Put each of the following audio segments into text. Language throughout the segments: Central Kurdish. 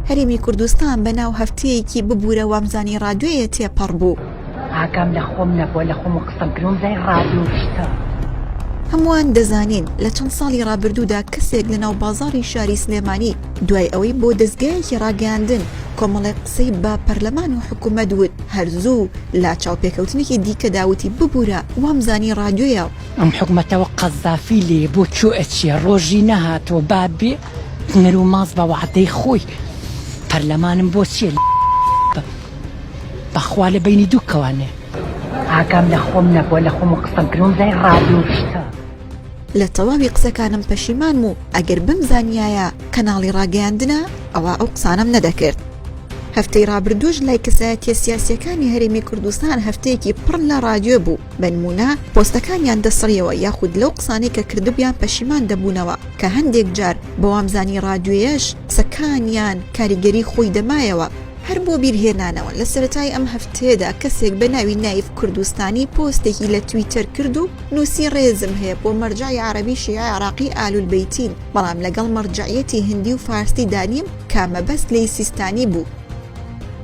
هەرێمی کوردستان بە ناو هەفتەیەکی ببوورە وامزانی ڕادوێیە تێپەڕ بوو. ئاگام لە خۆم نەبووە لە خۆم و قسە گرۆمزای ڕادوو شتە. هەمووان دەزانین لە چەند ساڵی ڕابردوودا کەسێک لە ناو بازاڕی شاری سلێمانی دوای ئەوەی بۆ دەزگایەکی ڕاگەیاندن کۆمەڵێک قسەی با پەرلەمان و حکوومەت وت هەرزوو لا چاوپێکەوتنێکی دیکەدا وتی ببوورە وامزانی ڕادوێیە. ئەم حکومەتەوە قەزافی لێیە بۆ کوێ ئەچێ ڕۆژی نەهاتەوە با بێ. نەرو ماز بە وەعدەی خۆی پەرلەمانم بۆ چیە لە بم بەخوا لە بینی دوو کەوانێ ئاگام لە خۆم نەبووە لە خۆم و قسەم کردن زای ڕادۆشتە. لە تەواوی قسەکانم پەشیمانم و ئەگەر بمزانیایە کەناڵی ڕاگەیاندنە ئەوا ئەو قسانەم نەدەکرد. هەفتەی ڕابردووش لای کەسایەتیە سیاسیەکانی هەرێمی کوردستان هەفتەیەکی پڕ لە ڕادیۆ بوو. بەنمونە پۆستەکانیان دەسڕیەوە یاخود لەو قسانەی کە کردبیان پەشیمان دەبونەوە کە هەندێک جار بەوامزانی ڕادیۆیەش قسەکانیان کاریگەری خۆی دەمایەوە. هەر بۆ بیرهێنانەوە لە سەرەتای ئەم هەفتەیەدا کەسێک بە ناوی نایف کوردستانی پۆستێکی لە تویتەر کرد و نوسی ڕێزم هەیە بۆ مەرجەعی عەرەبی شیعە عێراقی ئالول بەیتین بەڵام لەگەڵ مەرجەعیەتی هندی و فارسی دانیم کە مەبەست لێی سیستانی بوو.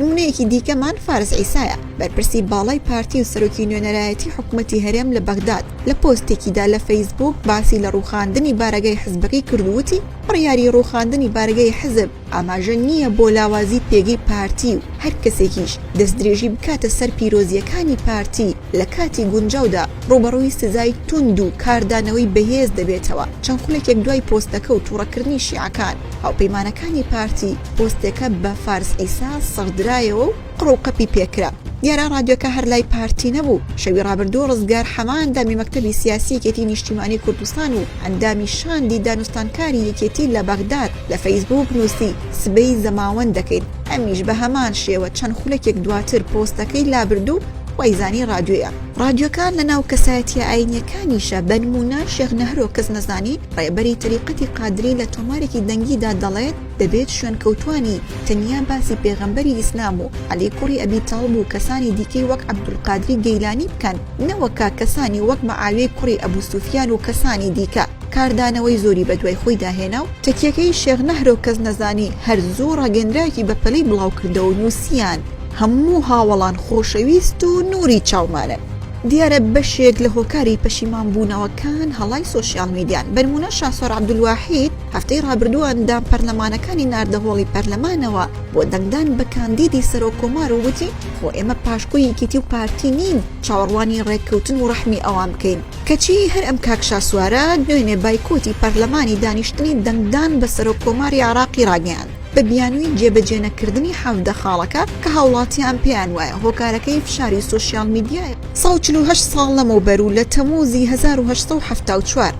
نموونەیەکی دیکەمان فارس عیسایە، بەرپرسی باڵای پارتی و سەرۆکی نوێنەرایەتی حکومەتی هەرێم لە بەغداد، لە پۆستێکیدا لە فەیسبووک باسی لە ڕووخاندنی بارەگای حزبەکەی کرد و وتی، بڕیاری ڕووخاندنی بارەگای حزب ئاماژە نییە بۆ لاوازی پێگەی پارتی و هەر کەسێکیش دەستدرێژی بکاتە سەر پیرۆزییەکانی پارتی لە کاتی گونجاودا ڕووبەڕووی سزای توند و کاردانەوەی بەهێز دەبێتەوە چەند خولەکێک دوای پۆستەکە و توڕەکردنی شیعەکان هاوپەیمانەکانی پارتی پۆستێکە بە فارس عیسا سڕدرایەوە و قڕ و قەپی پێکرا. دیارە ڕادیۆکە هەر لای پارتی نەبوو. شەوی ڕابردوو ڕزگار حەمە ئەندامی مەکتەبی سیاسی یەکێتی نیشتیمانی کوردستان و ئەندامی شاندی دانوستانکاری یەکێتی لە بەغداد لە فەیسبووک نووسی سبەی زەماوەند دەکەین. ئەمیش بە هەمان شێوە چەند خولەکێک دواتر پۆستەکەی لابرد و وای زانی ڕادیۆیە ڕادیۆکان لە ناو کەسایەتیە ئاینیەکانیشە بەنمونە شێخ نەهرۆ کەس نەزانی ڕێبەری تەریقەتی قادری لە تۆمارێکی دەنگیدا دەڵێت دەبێت شوێن کەوتانی تەنیا باسی پێغەمبەری ئیسلام و عەلی کوڕی ئەبی تاڵب و کەسانی دیکەی وەک عەبدولقادری گەیلانی بکەن نەوەکە کەسانی وەک مەعاویەی کوڕی ئەبو سوفیان و کەسانی دیکە کاردانەوەی زۆری بەدوای خۆیدا هێنا و تەکیەکەی شێخ نەهرۆ کەس نەزانی هەر زوو ڕاگەندراوێکی بەپەلەی بڵاوکردەوەو نوسیان هەموو هاوەڵان خۆشەویست و نوری چاومانن. دیارە بەشێک لە هۆکاری پەشیمان بوونەوەکان هەڵای سۆشیال میدیان، بەنموونە شاسوار عەبدولواحید هەفتەی رابردوو ئەندام پەرلەمانەکانی ناردە هۆڵی پەرلەمانەوە بۆ دەنگدان بە کاندیدی سەرۆک کۆمار و وتی خۆ ئێمە پاشکۆی یەکێتی و پارتی نین چاوەڕوانی رێککەوتن و رەحمی ئەوان بکەین کەچی هەر ئەم کاک شاسوارە دوێنێ بایکۆتی پەرلەمانی دانیشتنی دەنگدان بە سەرۆک کۆماری عێراقی راگەیاند. بە بیانووی جێبەجێنەکردنی حەڤدە خاڵەکە کە هاوڵاتیان پێیان وایە هۆکارەکەی فشاری سۆشیال میدیایە. ساڵ چل و هەشت ساڵ لەمەوبەر و لە تەمووزی هەزار و هەشت سەد و حەفتا و چوار،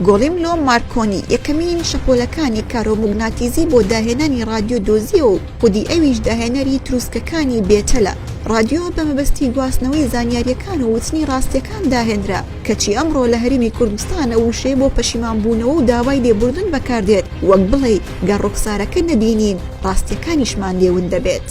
گۆلیملۆ مارکۆنی یەکەمین شەپۆلەکانی کارۆموگناتیزی بۆ داهێنانی ڕادیۆ دۆزییەوە و خودی ئەویش داهێنەری ترووسکەکانی بێتەلە. ڕادیۆ بە مەبەستی گواستنەوەی زانیارییەکان و وتنی ڕاستییەکان داهێنرا، کەچی ئەمڕۆ لە هەرێمی کوردستان ئەو وشەیە بۆ پەشیمانبوونەوە و داوای لێبوردن بەکاردێت. وەک بڵێی گەر ڕوخسارەکە نەبینین ڕاستیەکانیشمان لێ ون دەبێت.